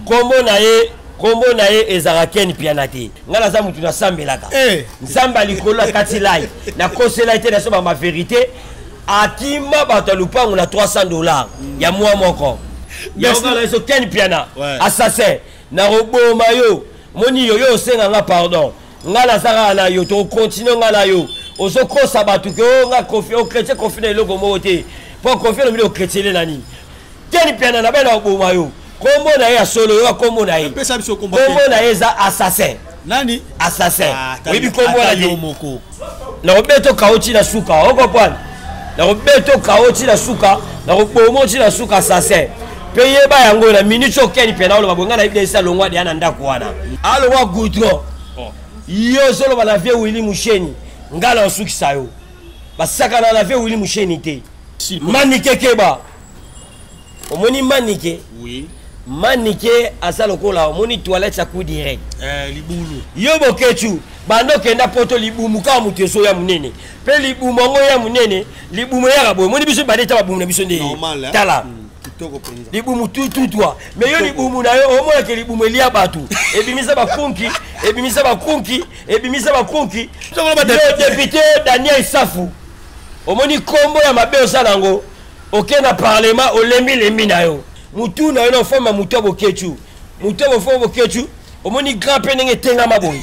kombo na ye kombo na ye ezalaka ken piana te ngai naza motu nasambelaka eh. nzambe ya likolo akati lai nakosela ye te naso bama verité akima bato ya lupango na 300 dollars ya mwa moko yaokalaiso ken piana assassin nakoboma yo moni yo yo osenga nga pardon ngai naza kaka na yo tokokontinue ngai na yo ozokosa bato ke o oh, nga kofi o oh, chrétien kofi na eloko moko te mpo kofi elombi okretien ele na nini Ken Mpiana na bana oboma yo. Kombo na ye ya solo yo kombo na ye. Pesa biso kombo. Kombo na ye eza assassin. Nani? Assassin. Ah, Oyebi kombo na ye. Na obeto kaochi na suka. Oko pwana. Na obeto kaochi na suka. Na obomo chi na suka assassin. Pe yeba yango na minute yo Ken Mpiana oloba bonga na yebisa esa longwa de ana ndako wana. Aloba goudron. Oh. Yo solo bana vieux Willy Musheni. Ngala osukisa yo. Basakana na vieux Willy Musheni te. Mani kekeba. omoni manike oui. manike aza lokola omoni toilette ya coup direct eh, libulu yo bokechu banda okenda poto libumu kaka moto ezoya monene mpe libumu yango ya monene libumu eyaka boye omoni biso bade ta babumu na biso nde eh? tala mm. libumu tututwa me yo libumu na yo omonake libumu elia bato ebimisa bakunki ebimisa bakunki ebimisa bakunki yo depute daniel safu omoni nkombo ya mabe osala yango oke na parlement olembi lembi na yo mutu na yo na ofamba mutu ya bokechu mutu ya bofamba bokechu omoni grand mpe ndenge etengama boye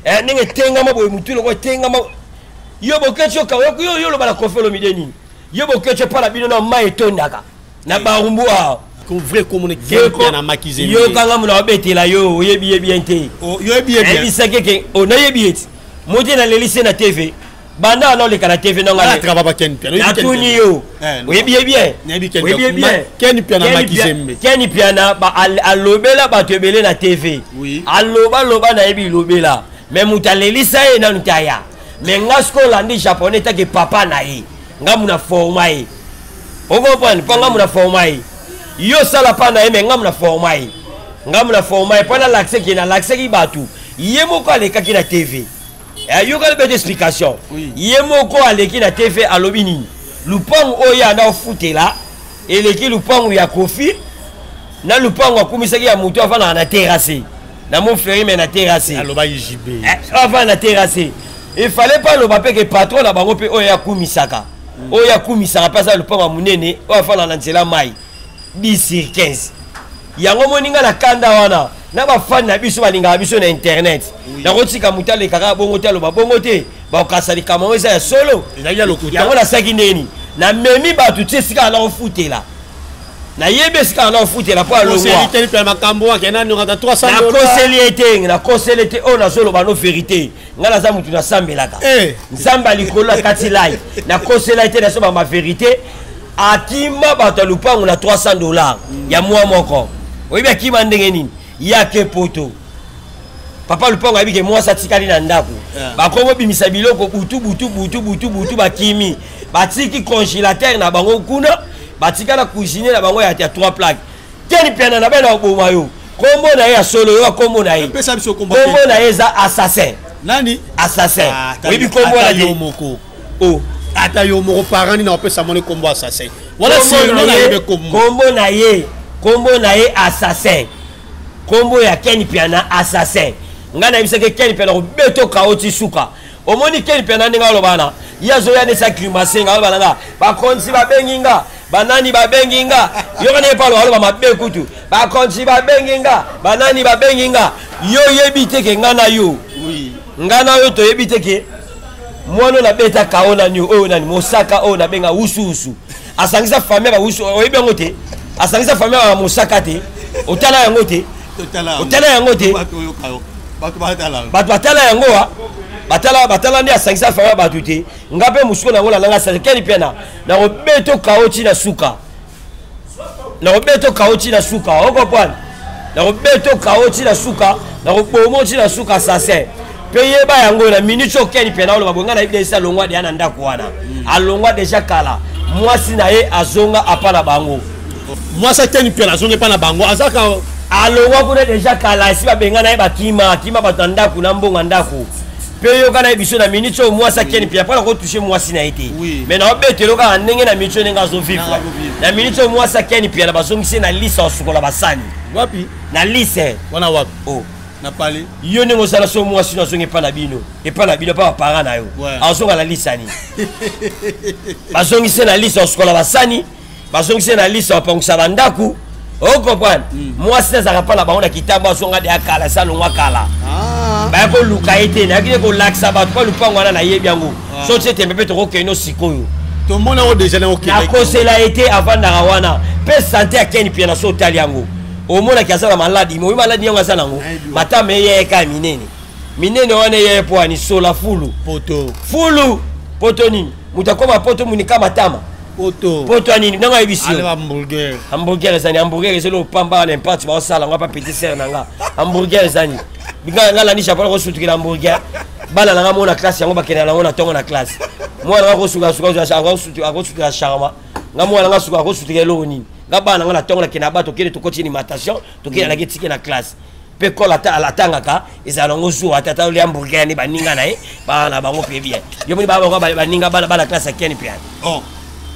eh, ndenge etengama boye mutu loko etengama yo bokechu okayoku yo yo oloba na kofi olomide nini yo bokechu epa na bino na mai etondaka na barumbu awa vrai komona kipe na makizeli yo kanga mona obetela yo oyebi ye bien te oh, oyebi ye bien ebisaki ke onayebi oh, ye ti modi na lelise na tv banda wana oleka na tv nanga natuni yo eh, oyebi ye bienken piana alobela bato ebele na tv alobaloba na ye bilobela me moto alelisa ye nanu te aya me nga soki olandi japonais take papa na ye nga muna forma ye okomprendre mpo nga muna forma ye yo osala pa na ye me nga muna forma ye nga muna forma ye mpo nalakiseki nalakiseki bato ye moko alekaki na tv ayokali bete explication ye moko aleki na tv alobi nini lupangu oyo ye anda ofutela eleki lupangu ya kofi na lupangu akumisaki ya moto afandaka na terrasse na mon ferri me na terrasse alobaki jb eh, afanda na terrasse efale mpe aloba mpe ke patron na bango mpe oyo akumisaka mm. oyo akumisaka mpe aza lupangu ya monene oyo afandaka na nzela mai 10 sur 15 yango omoni ngai na kanda wana na bafani na biso balingaka biso na internet nakotika moto aleka kaka bongo te aloba bongo te bakokasa likambo yango eza ya solo yango nasalaki ndeni namemi bato ti esika nakofutela nayebi esika na ofutela mpo alongwanakoseli ete nakoseli ete oyo nazoloba no verité ngai naza motu nasambelaka eh. nzambe ya likolo akati lai nakosela ete nasobama verité akima bato ya lupango na 300 dollar mm. ya mwa moko oyebi akima ndenge nini ye ake poto papa lupango ayebi ke mwasi atikali na ndako yeah. bakomi kobimisa biloko butu butu butu butu butu bakimi batiki congélateur na bango kuna batika na cuisine na bango ya 3 plaque keni piana na bana oboma yo kombo na ye ya solo yo kombo na ye kombo na ye eza assassin nani assassin ah, oyebi kombo na ye oh ata yo moko parent nini akopesa mwana kombo assassin wana sirno na yebe kombo kombo na ye kombo na ye assassin kombo ya ken piana assassin ngai nayebisaki ken piana kobeto kao ti suka omoni ken piana ndenge aloba na ye azoya nde sa climase nga aloba na nga bakonzi babengi nga banani babengi nga yoka ndenge paulo aloba mabe kutu bakonzi babengi nga banani babengi nga yo oyebi te ke ngai na yo ngai na yo toyebi te ke mwana oyo nabeta kao nani oyo nani mosaka oyo nabenga usuusu asangisa famille ya bausu oyebi yango te asangisa famille ya mosaka te otala yango te otala yango te bato batala yango wa batala batala nde asangisa famille ya bato te nga mpe mosuku na yango nalanga sase keni mpe na nakobeta okao ntina suka nakobeta okao ti na suka okoprane nakobeta okao ti na suka nakobomo ti na suka sase mpe yeba yango na minute okeni mpe naoloba boye ngai nayebi esi alongwa deya na ndako wana hmm. alongwa deja kala mwasi na ye azonga apa na bango mwasi akeni mpe nazongi epa na bango azaka alongwa kuna deja kala esi babengana ye bakima akima bato na ndako na mbongo ya ndako mpe yoka na ye biso na minute oyo mwasi akeni mpe apona kotouche mwasi na ye te mai na obetelo kaka ndenge na minute oyo ndenge azovivre na minute oyo mwasi akeni mpe na bazongisi na lise osukola basani wapi na lise wana wapi o oh. na pale yo ndenge osala so mwasi no azongi epai na bino epai na bino epai bapara na yo azonga na lisani bazongisi na lise osukola basani bazongisi na liso apangisa bandako okomprendre oh, hmm. mwasi nde azalaka mpa na bango na kitambo azonga de ya kala esi alongwa kala ah. baya koluka ye te nayaki nde kolakisa bato mpo lupango wana nayebi yango ah. soki etembe mpe tokokende o sikoyo tomona yango deja nakosela ye te avandaka wana mpe sante ya keni mpiana so otali yango omonaki aza na maladi moyi maladi yango aza nango matama eyeyeka ya minene minene wana eyeye mpo ani sola fulu poto fulu poto nini moto akoma poto monika matama poto poto ya nini ndenge ayebisi yo hamburger hamburger ezani hamburger ezali opamba na imparte baosala yango apa petit sere na nga hamburger ezani nga nga landi japon nakosutukela hamburger bana na nga mona classe yango bakendela nango na ntongo na classe mwana nga akosutukela charma nga mwana nga suka akosutukela eloko nini nga bana nga na ntongo nakenda bato okende tokoti ni matation tokenda nake tike na classe mpe kolo atangaka ezala nango zuwa te ata olia hamburger yani baninga na ye baa na bango mpe bien yo moni baa bango baninga bana bana classe ya keni mpe yani oh,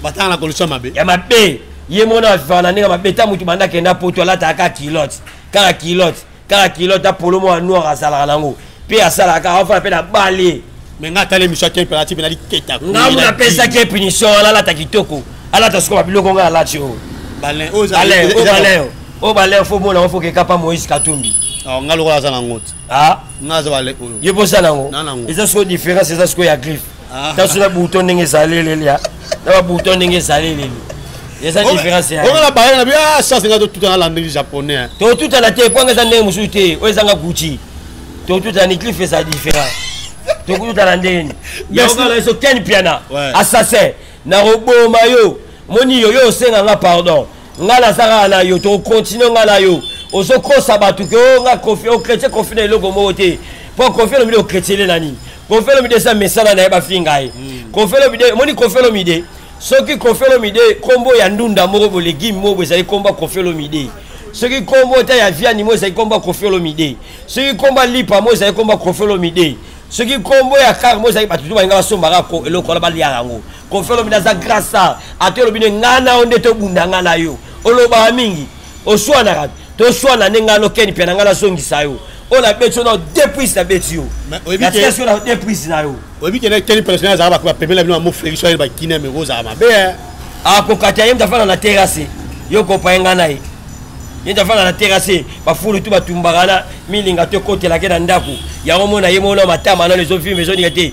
batanga na kolisa mabe ya mabe ye mona avivaka na ndenge mabe ta motu banda akenda poto alataka kaka kilote kaka kilote kaka kilote apolo mwa noir azalaka nango mpe asalaka afana mpe na bale me nga atali emission ya kempe alati mpe naliketa ngamu napesaki ye punition wana alata kitoko alata soko babiloko ngai alati oyo baleo oyo baleo fo mona ofo kekapa moïse katumbi nga lokola aza nango te nga aza bale oyo ye mposa nango eza soko différence eza soko ya griffe ah. tasu na bouton ndenge ezali eleli ah. na babouton ndenge ezali eleli eza différence yango na bayana bi ah ça c'est ngato tout en landeli japonais hein. to tout en até kwanga za ndenge mususu te o ezanga gucci to tout en cliff eza différent to tout en landeli ya nga la so ken piana assassin na roboma yo moni yo yo senga nga pardon nga naza kaka na yo tokokontinue nga na yo ozokosa bato ke o oh, nga kofi okretien oh, kofi na eloko moko te mpo kofi alobi de okretiele na nini kofi alobi de eza mesana na ye bafinga ye hmm. kofi alobi de omoni kofi alobi de soki kofi alobi de nkombo ya ndunda moko bolegime moko ezali nkombo ya kofi alobi de soki nkombo ta ya viani moko ezali nkombo ya kofi alobi de soki nkombo ya lipa moko ezali nkombo ya kofi alobi de soki nkombo ya kar moko ezali bato to balinga basombaka eloko wana baliaka yango kofi olobi naza grasa ata olobi nde ngai na yo nde tobunda ngai na yo olobaka mingi oswanaka toswana nde ngai nokeni mpe na ngai nazongisa yo oyo nabeti yo na deux prise nabeti yo natikasi yo na deux prise na yo oyebi kende keni personnel azalaka bakoba pembeni na bino bamo flexion ayeli bakine meko ozala mabe eh. akokata ah, ye mtafanda na terase yo kopaye ngai na ye ye mtafanda na terase bafulu tu batumbaka na milinga to ekotelake na ndako yango mona ye mona matama nano ezovimba ezoninga te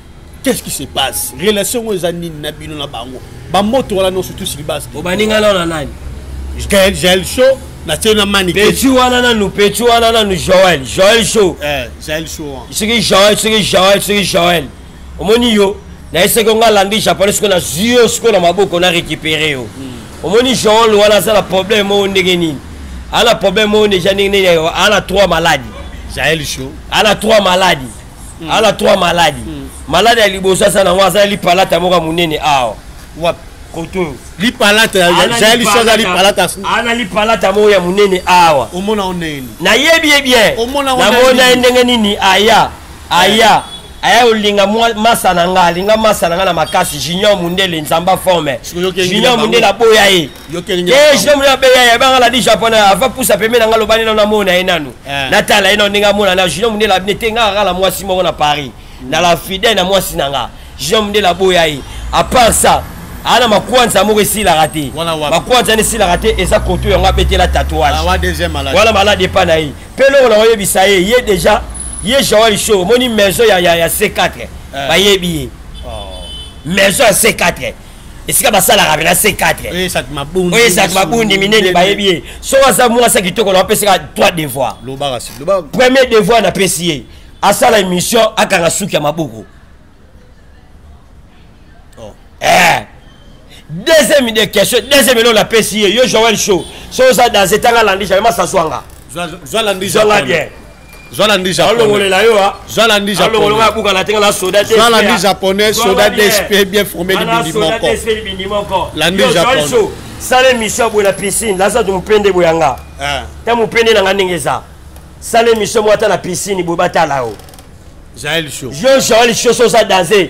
qu'est-ce qui se passe relation oyo eza nini na bino na bango bamoto wana nyonso tu silibas obaninga nao na nani gael jael show na tie na mani peti wana nanu peti wana nanu joel joel show eh, jael show soki joel soki joel soki joel omoni yo naye soki onga alandi japonais soki nazwi yo sikoyo na maboko na récupéré yo hmm. omoni joel wana aza na problème moko ndenge nini ala problème moko deja ndenge nini ala trois maladi jael show ala trois maladi mm. aza na trois maladi mm. maladi ya liboso aza nango aza lipalata moko ya monene awa wapi koto oyo lipalataza liso aza lipalata ana lipalata moko ya monene awa omona o ndenge nini nayebi ye bien namona ye ndenge nini aya aya eh. aya olinga masa na nga alinga masa na nga na makasi junior mundele nzamba forme junior mundele aboya ye jeune ya beya ya banga la di japonais ava pusa pembe na nga lobani na namona ye nanu eh. natala ye nanu ndenge amona na junior mundela abine te nga akala mwasi moko na paris na la fidèle na mwasi na nga junior mundela aboya ye à part ça ana makwanza moko esilaka te makwanza wana esilaka te eza koto yango abetela tatouage ah, wana malade epa na ye mpe eloko na oyebisa ye ye déjà ye joel show omoni maison ya, ya, ya c4 eh. bayebi ye oh. maison ya c4 esika basalaka na c4 oyo esatu mabundi minene bayebi ye soko aza mwasi ya kitoko na bapesaka trois devoir premier devoir napesi ye asala émission akanga suki ya maboko oh. eh. deuxième de question deuxième eloko napesi ye yo joel show so oza danse etanga landi jamai masaswanga zwanga bien zalandi japonaiszalandi japonais soda dsp bien formé libindi moko landi japon sala émission boye na piscine laza to mopende boye yanga ah. ta mopende na nga ndenge eza sala émission moko ata na piscine boye batala yo jael show yo jael show soza danse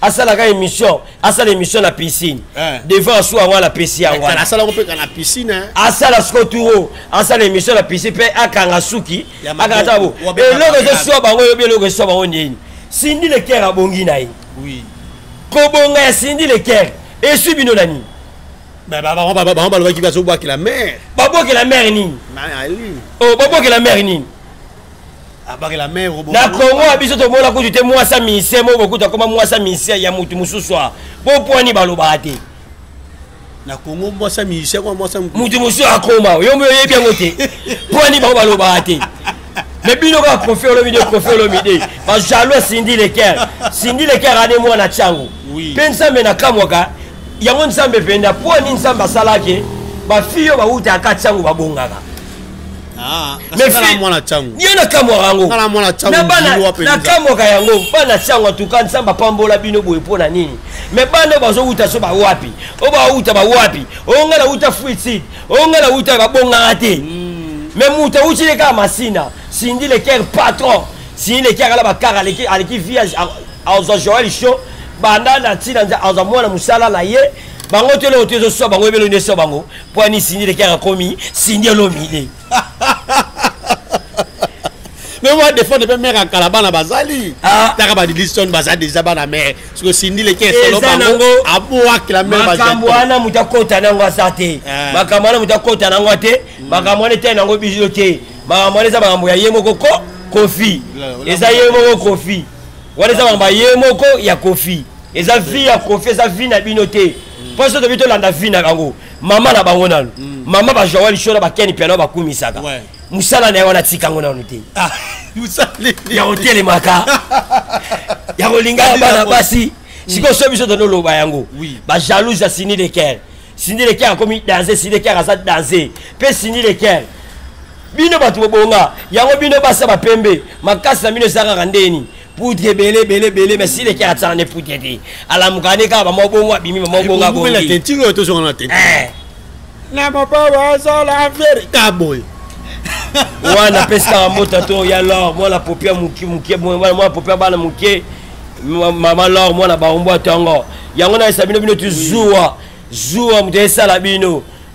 asalaka émission asala émission na piscine eh. devant asu yango ala pesi yango wana asala yango mpe ka na piscine asala siko turo asala émission na piscine mpe akanga suki akanga ta bo eloko ezosua bango eyobi eloko esua bango nini sindi lekere abongi na ye kobonga ya sindi lekere esui bino na nini bango balobaki bazobwakela mare babwakela mare nini babwakela mare nini na kongo ya biso tomona kutu te mwasa misie moko bokuta koma mwasa misie ya motu mosusu a bopwani balobaka te na kongo mwasa misie kwa mwasa motu mosusu akoma yo mpe oyebi yango te pwani bango balobaka te me bino kaka kofi olobi de kofi olobi de bajalois sindi leker sindi leker ane mwana tiango mpe nzambe nakamwaka yango nzambe mpenza pwani nzambe asalaki bafille oyo bawutaka tiango babongaka Ah, ye nakamwaka yango nakamwaka yango bana ntango atuka nzambe apambola bino boye mpo na nini me bana oyo bazowuta so bawapi oyo bawuta bawapi oyo ngai nawuta fruitsid oyo ngai nawuta babongaka te hmm. me moto awuti le kaka masina sindi leker patron sindi leker ala bakara aleki via azwa joel sho banda na ntina azwa mwana mosala na ye bango te eloko te ezoswa bango ebelo nde eswa bango Kwani Cindy leki akomi Cindy Olomide. Mais moi défendre pe mère en kalabana bazali. Ah. Taka ba Dilson baza déjà bana mère. Parce que Cindy leki solo bango aboa que la mère bazali. Makambo wana muta kota nango asate. Ah. Makambo wana muta kota nango te. Hmm. Makambo wana te nango bijote. Makambo wana eza makambo ya ye moko ko kofi. Eza ye moko kofi. wana eza maloba ye moko ya kofi eza vie ya kofi eza vie na bino te mpo so tobi tolanda vie na bango mama na bango nano mm. mama bajoa lisho na bakeni piano bakumisaka mosala na ye wana tika yango nano te ah, ya kotelemaka ya kolingaka bana basi mm. sikoyo so biso tonoloba yango bajalouse ya sini de ker sini de ker akomi danse sini de ker aza danse mpe sini de ker bino bato bobonga yango bino basa bapembe makasi na bino ezalaka ndeni poudre ebele ebele ebele mais sile kaka tsana ne poudre te alamuka ne kaka bamwa bongo abimi bamwa bongo abongi na mopawa azala veri ka boye wana apesi kaka mota to ya lor mwana popia moke moke mwana popia bana moke mama lor mwana baombo atongo yango nayesa bino bino tuzuwa zuwa moto esala bino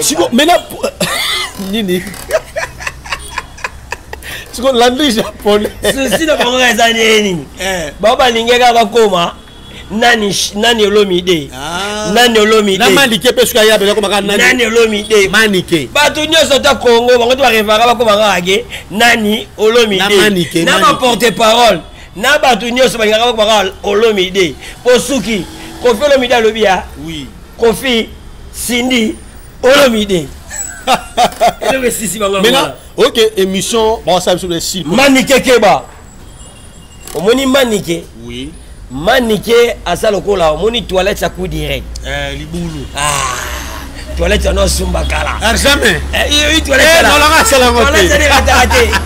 siko mena nini siko landi japonais susi na bango eza nini eh. bango balingaka bakoma nani nani olomide ah. nani olomide na manike pe suka ya bela komaka nani nani olomide manike bato nyonso ta kongo bango te barevaka bakomaka age nani olomide na ba porte parole na bato nyonso balingaka bakomaka olomide po suki kofi olomide alobi ya oui kofi cindy olomide eloko esisi bango maintenant ok émission bawasala biso de si manike keba omoni manike oui manike aza lokola omoni toilette ya coup direct eh, libulu ah. toilette yango asumba kala ah, jamais eh, toilette eh, asalaka te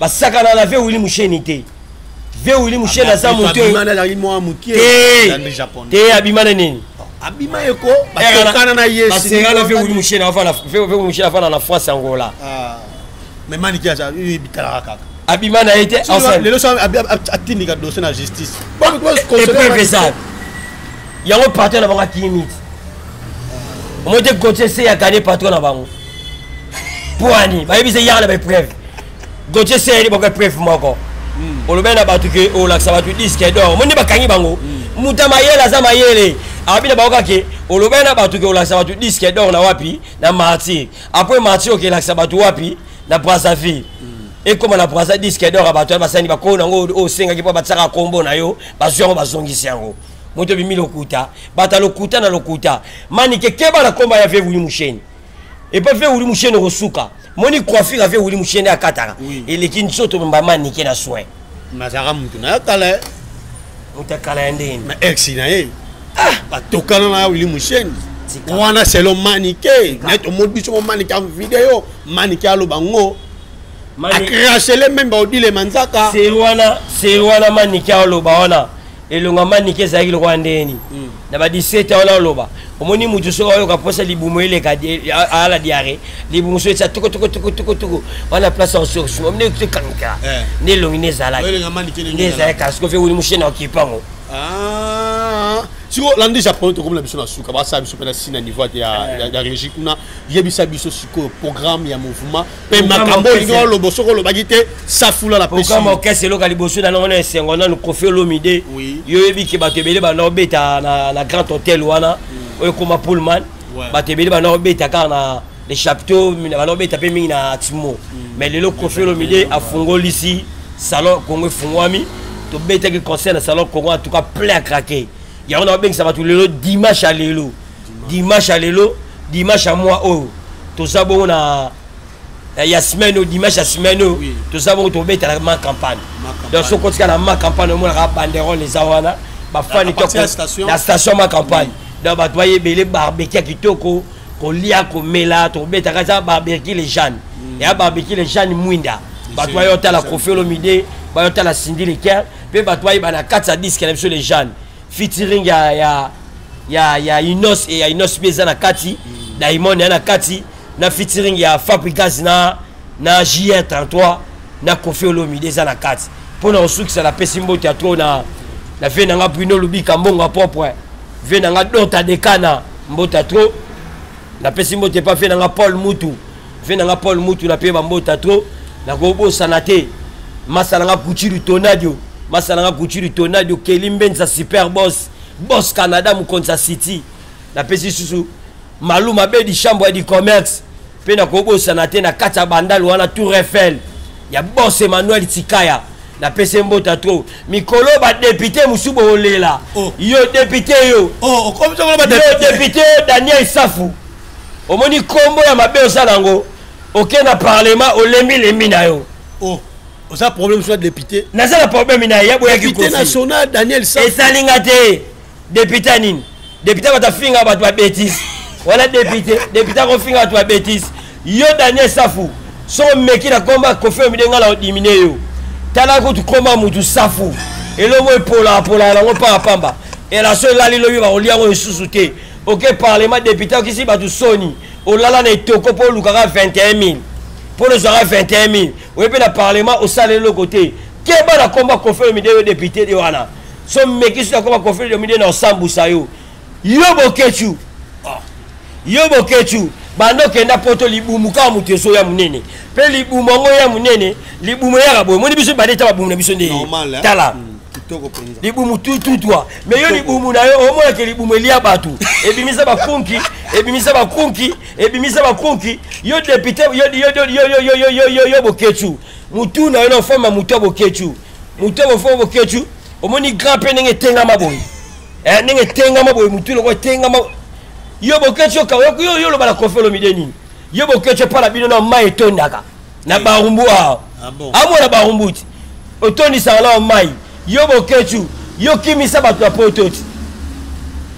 basakana na ve wili musheni te ve wili musheni aza moto te abima na nini abima ye ko batokana na ye basengana ve wili musheni afana na france angola ah. mais maniki aza bitalaka kaka abima na ye te lelo so atindika dossier na justice epreuve eza yango patron na bango akimi omoi te kotie se ya kane patron na bango pwani bayebisa eyaka na baepreuve gotie seyeli boko epreuve moko hmm. olobeli na bato ke olakisa bato diske dor moni bakangi bango hmm. moto ya mayele aza mayele abi na bango kake olobeli na bato ke olakisa bato diske dor na wapi na martyr apres martyr okelakisa bato wapi na brazzaville hmm. ekóma na brasa diske dor ya bato ya basani bakolo na yango oyo osengaki mpo batiaka nkombo na yo bazwi yango bazongisi yango moto ebimi lokuta bata lokuta na lokuta manike keba na nkombo ya vevuli musheni epa mpe wuli musheni okosuka moni coiffure afe wuli musheni akataka eleki nzoto mbama nike na soin nazalaka mutu na ya kala moto ya kala ya ndeni na ex na ye ah! batokana na ya wili musheni wana selo manike naye tomoni biso mo manike ya video manike aloba ngo akrachele meme baodile manzaka se wana se wana manike aloba wana elonga manike ezalaki lokola ndeni hmm. na ba 17 wana oloba omoni mutu soki ayoka mposa libumu eleka ala diare libumu so etya tukutukutukutukutuku wana place ressource omoni ekuti kankela eh. nde elongi nde ezalaki nde ezalaki kasi kofi ewuli mushene okipango ah. sikoyo landi japonais tokomi na biso na suka basala biso mpe na si na niveau ya eh. régie kuna yebisa biso sikoyo programme ya mouvement mpe makambo oyo olingi oloba soki olobaki te safula na pesiokama okese eloka liboso na nango na esengo nanu kofi olomide yo oyebi ke bato ebele banda obeta na grand hôtel wana oyo ekoma pullman bato ebele banda obeta kaka na le chapteau banda obeta mpe mingi na timo mm. mais lelo kofi olomide afungolisi salon kongo efungwami tobetaki concert na salon kongo en tout cas plein à craquer yango na babengisa bato lelo dimanche ya lelo dimanche ya lelo dimanche ya mwa oyo toza bongo na ya semaine oyo dimanche ya semaine oyo toza bongo tobetala ma campagne donc soki otika na ma campagne omonaka banderole eza wana bafani na station ma campagne donc bato baye ebele barbeki ya kitoko kolia komela tobetaka eza barbeki le jeanne mm. ya barbeki le jeanne mwinda bato baye otala kofi olomide baye otala sindi leker mpe bato bayeba na kati ya diske na biso le jeanne featuring ya ya ya ya Inos et ya Inos pe eza na kati mm. Diamond ya na kati na featuring ya Fabricas na na JR33 na Koffi Olomide eza na kati mpo na kosukisa na pesi mbote ya trop na na vie na nga Bruno Lubika mbongo ya propre vie na nga Dota Dekana mbote ya trop na pesi mbote pa vie na nga Paul Mutu ve na nga paul mutu na pe bambota trop nakobosana te masala nga gucci du tonadio masala nga gucci du tonadio keli mbenza super boss boss canada mokonzi ya city napesi lisusu malu mabe di chambre ya di commerce mpe nakobosana te na kati ya bandalo wana tour eiffel ya boss emmanuel tikaya napesi mbota tro mikolo badepute mosusu bolela oh. yo depute yo oh, yo depute yo daniel safu omoni kombo ya mabe oza nango oke na parlement olembi lembi na yo oh. oza problème soit député naza na problème na ye boyaki kofi national daniel sa esali nga te député nini député bato afinga bato ba bétise wana député député akofinga bato ba bétise yo daniel safu soko meki na komba kofi omide nga na odimine yo tala kutu komba mutu safu elongo epolapolaa nango pamba pamba elaso elali lobi bakolia yango lisusu te oke parlement depute okisi bato soni olala na etoko mpo olukaka 21000 mpo ozwaka 21000 oye mpe na parlement osala eloko te keba na komba kofi olomide yo depute de wana so mekisi na komba kofi olomide na osambusa yo yo bokechu ah. yo bokechu banda okenda poto libumu kaka moto ezo ya monene mpe libumu yango ya monene libumu eyaka boye moni biso bade ta babumu na biso nde tala mm. kitoko mpenza libumu tututwa me yo libumu na yo omonake libumu elia bato ebimisa bakunki ebimisa bakunki ebimisa bakunki yo depute yo boketshu motu na yo na ofama motu ya boketshu motu ya bofama boketshu omoni grand mpe ndenge etengama boye eh, ndenge etengama boye motu loko etengama yo boketshu okayoki yo oloba na kofi olomide nini yo boketshu epa na bino na mai etondaka na barumbu awa ah bon. amona barumbu ti otondisaka nao mai yo bokecu yo kimisa bato ya poto ti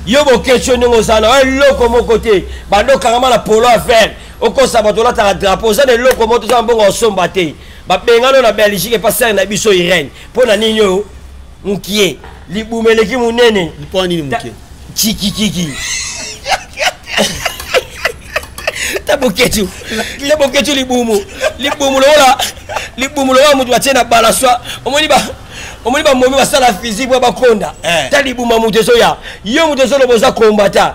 yo bokecu ndenge oza na eloko moko te bandokangama na polo ya vere okosa bato olataka drapo oza na eloko moko toza na mbongo osomba te babengano na belgique epa sere na biso irene mpo na nini oyo mukie libumu eleki monene mpo nini mukie chikikiki ta boketu ta boketu libumu libumu lokola libumu lokola moto batie na balaswa omoni ba omoni bamomi basala physique mpo bakonda eh. ta libuma moto ezoya yo moto ezoloba oza kombata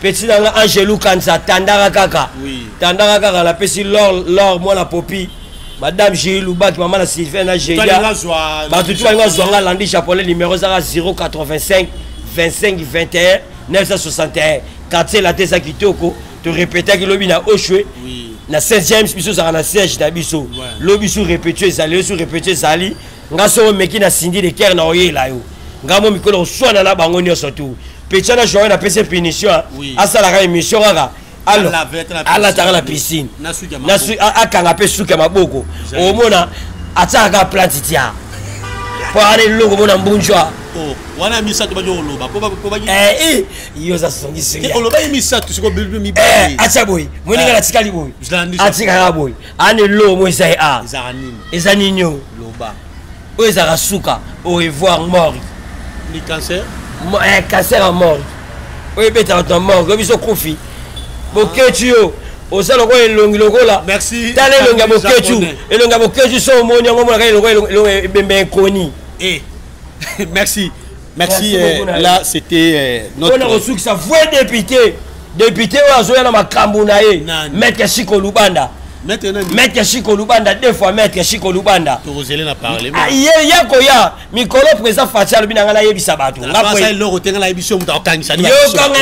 petit na nga angelu kanza tandaka kaka oui. tandaka kaka napesi lor lor mwana popi madame jei lubaki mama na sylvain na jeia bato tu balingi bazwa nga landi japonais numero ezaka 085 25 21 961 quartier late eza kitoko torepetaki lobi na oshwe oui. na saint james biso ozalaka na siège na biso lobi su repetio ezali yo su repetio ezali nga so omeki na sindi de kere na oyela yo nga mo mikolo oswana na bango nyonso tu petia na joye napesi punition asalaka émission kaka alataka na piscine akanga mpe suki ya maboko omona atiaka kaka plante tia mpo ana eloko mona mbunjwa oh, wana misato baki oloba yo oza songisongiolobaki misato sikoyo mibale atia boye moninga natikali boye atikaka boye ane lo mo eza ye a ezaka nini eza nini o loba oyo ezaka suka au revoir mori ni cancer eh, cancer ya mori oyo ebeta bato na mori oyo biso kufi boketi yo oza lokola elongi lokola tala elongi ya boketu elongi ya boketu so omoni yango omonaka elongi ebembe ekoni eh, merci Merci, euh, là c'était euh, notre... On a reçu que ça, vrai député député oyo azoya na makambo na ye maître chiko lubanda maître chiko lubanda deux fois maître chiko lubanda ah, ye ya koya mikolo président fati alobi na ngai nayebisa bato yokanga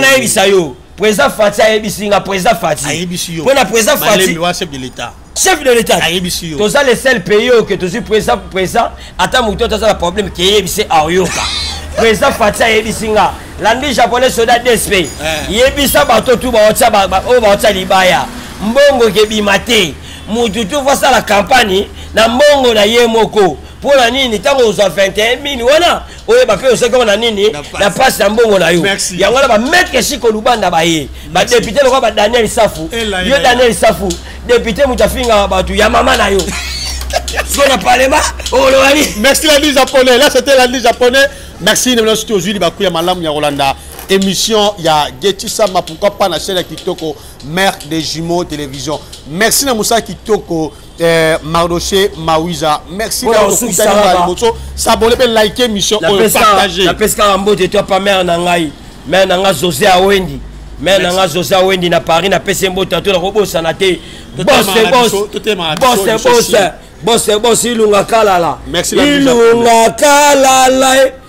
nayebisa yo Président Fatsi a yebisi nga président Fatsi. A yebisi yo. Pona président Fatsi. Malembe wa chef de l'état. Chef de l'état. A yebisi yo. Toza le seul pays au que tozu président président ata mutu toza la problème qui yebisi aoyoka. Président Fatsi a yebisi nga. Landi japonais soda DSP. Eh. Yebisa bato tu ba otsa ba o ba otsa libaya. Mbongo ke bimate. Mutu tu voit ça la campagne na mbongo na ye moko. Pona nini tango ozo 21 mini wana oyeba mpe ozwaki yango na nini na mpasi ya mbongo na yo yango wana bamaitre siko lubanda baye badepute lokola ba daniel safu yo daniel safu depute moto afingaka bato ya mama na yo siko na parlement okoloba nini merci landi japonais là c'était landi japonais merci na bino soki ozwi libaku ya malamu ya kolanda émission ya getisama pourquoi pas na chaîne ya kitoko mère des jumeaux télévision merci na mosala kitoko Eh, Mardoché Mawiza. Merci d'avoir écouté Maliboso. S'abonner et liker mission et partager. La pesca en beau de toi, pas mère Nangaï. Mère Nanga José à Wendy. Mère Nanga José à Wendy na Paris, na pesca en beau de toi, robot sanaté. Boss, boss. Boss, boss. Boss, boss, ilunga kalala. Merci la Ilunga kalala.